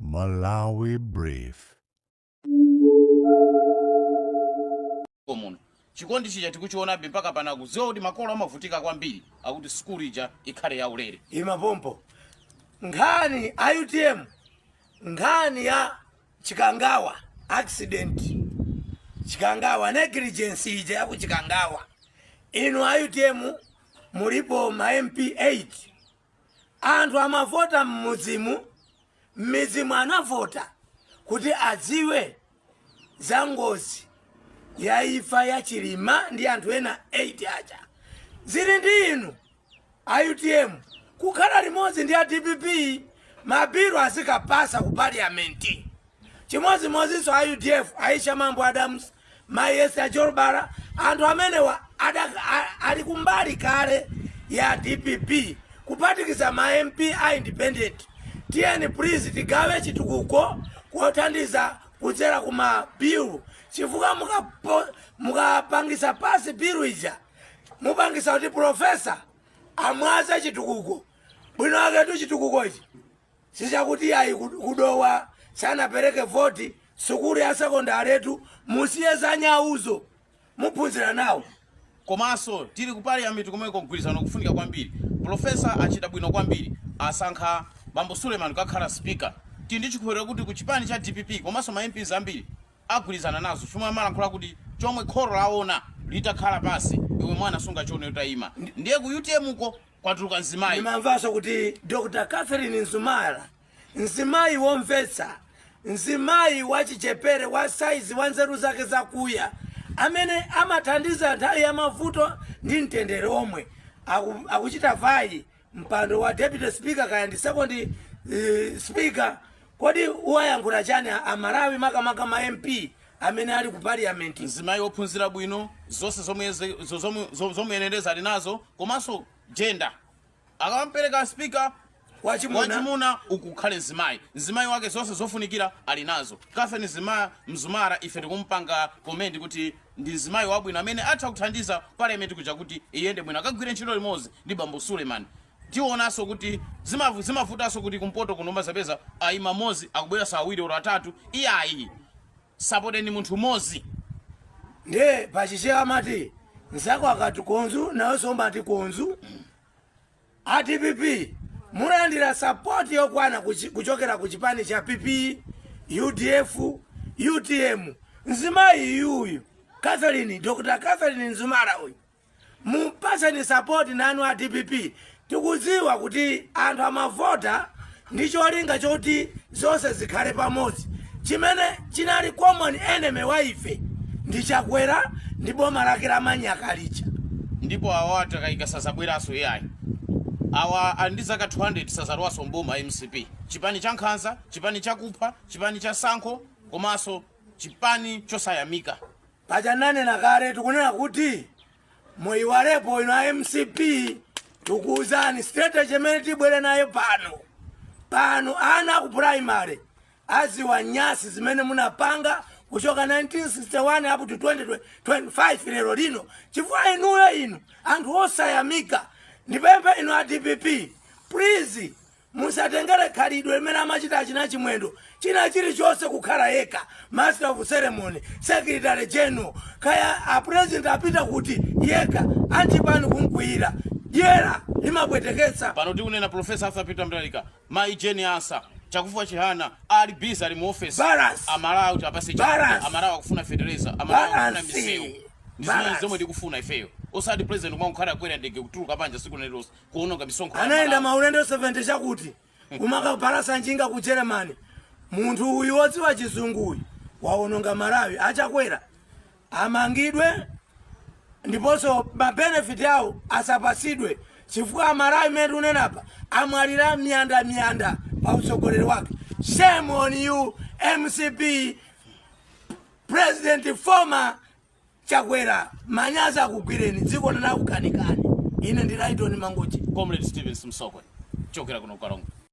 Malawi Brief. muno chikondi chija tikuchionabe mpaka pano akudziwa kuti makolo amavutika kwambiri akuti sukulu ija ikhale yaulere imapompo nkhani a utm nkhani ya chikangawa accident chikangawa negligence ija yaku chikangawa inu a utm mulipo ma mp 8 Anthu amavota m'midzimu, m'midzimu anavota kuti adziwe za ngozi ya imfa ya Chilima ndi anthu ena 8 aja. Zili ndi inu a utm kukhala limodzi ndi a dpp mabilu azikapasa ku parliament. Chimodzimodzinso a udf, Aisha Mambo Adams, Mayi Esther Jolobala, anthu amenewa ada, a, ali kumbali kale ya dpp kuphatikiza ma MP a independent. Tiyeni please tigawe chitukuko kothandiza kudzera ku ma bill chifukwa mukapo- mukapangisa pasi bill ija mupangisa kuti profesa amwaze chitukuko bwino aketu chitukukochi Sichakuti iyayi ku Dowa sanapereke voti, sukulu ya sekondaletu musiye za nyauzo. Muphunzira nawo. Komanso tili ku parliament komweko mgwirizano ukufunika kwambiri. Profesa achita bwino kwambiri asankha bambo Suleman kukakhala speaker. Tili ndi chikhulupiriro kuti ku chipani cha dpp komanso ma MPs ambiri agwirizana nazo chomwe amalankhula kuti chomwe kholo laona litakhala pansi iwe mwana sungachione utayima. Ndiye ku utm ko? kwatuluka mzimayi ndimamvanso kuti dr catherine mzumara mzimayi womvetsa mzimayi wachichepere wa saizi wa nzeru zake zakuya amene amathandiza nthawi ya mavuto ndi mtendere omwe aku, akuchita vayi mpando wa deputy speaker kaya ndi second uh, speaker kodi uwayankhula chani amalawi makamaka ma mp amene ali ku parliament mzimayi wophunzira bwino zonse zomwe ze- zo- zomwe- zo- zomuyenereza ali nazo komanso jenda akampereka spika wachimuna wachimuna ukukhale mzimayi mzimayi wake zonse zofunikira ali nazo catherine mzima mzumara ife tikumpanga commend kuti ndi mzimayi wabwino amene atha kuthandiza parliament kuja kuti iyende bwino akagwire ntchito limodzi ndi bambo suleiman Tionanso kuti zima zimavutanso kuti kumpoto kuno umazapeza ayima mmodzi akubweranso awiri olo atatu iyayi sapoteni munthu mmodzi. Ndiye pachichewa amati mzako akati konzu nawenso umati konzu. A dpp mulandira sapoti yokwana kuchi- kuchokera ku chipani cha PP, UDF, UTM. Mzimayi yuyu Catherine, Dr. Catherine Mzumara uyu mumpaseni sapoti nanu a dpp tikudziwa kuti anthu amavota ndi cholinga choti zonse zikhale pamodzi chimene chinali common enemy wa ife ndi chakwera ndi boma lake la manyaka lija ndipo awa atakayika sazabweranso iyayi awa ali ndi zaka 200 sazalowanso mboma mcp chipani cha nkhanza chipani chakupha chipani cha sankho komanso chipani chosayamika Paja tinanena kale tikunena kuti muiwalepo inu a mcp tikukuuzani strategy imene tibwere nayo pano pano ana aku primary aziwa nyasi zimene munapanga kuchoka 1961 up to 2025 lero lino chifukwa inuyo inu anthu osayamika ndipemphe inu a dpp please Musatengere khalidwe limene amachita achina Chimwendo, china chilichonse kukhala yekha, Master of ceremony, secretary general, kaya a president apita kuti yekha, achipani kumukwiyira. Dyera limapweteketsa. Pano tikunena Prof. Arthur Peter Mutharika, Mayi Jane Ansah, Chakufwa Chihana ali busy ali mu office. Amalawi tiwapatse chakudya, Amalawi akufuna fetereza, Amalawi akufuna misewu. Ndi zimenezi zomwe tikufuna ifeyo. Osati president kumangokhala kukwera ndege kutuluka panja tsiku lina lililonse. kuononga misonkho ya Malawi. anayenda maulendo 70 chakuti kumakapalasa njinga ku germany munthu uyu wodziwa chizungu uyu waononga malawi achakwera amangidwe ndiponso mabenefiti awo asapasidwe chifukwa amalawi mmene tikunenapa amwalira miyanda miyanda pa utsogoleri wake shame on you mcp president former Chakwera manyazi akugwireni dziko linakukanikani ine ndi Lyton Mangochi. Comrade Steven Msokwe kuchokera kuno ku Karonga.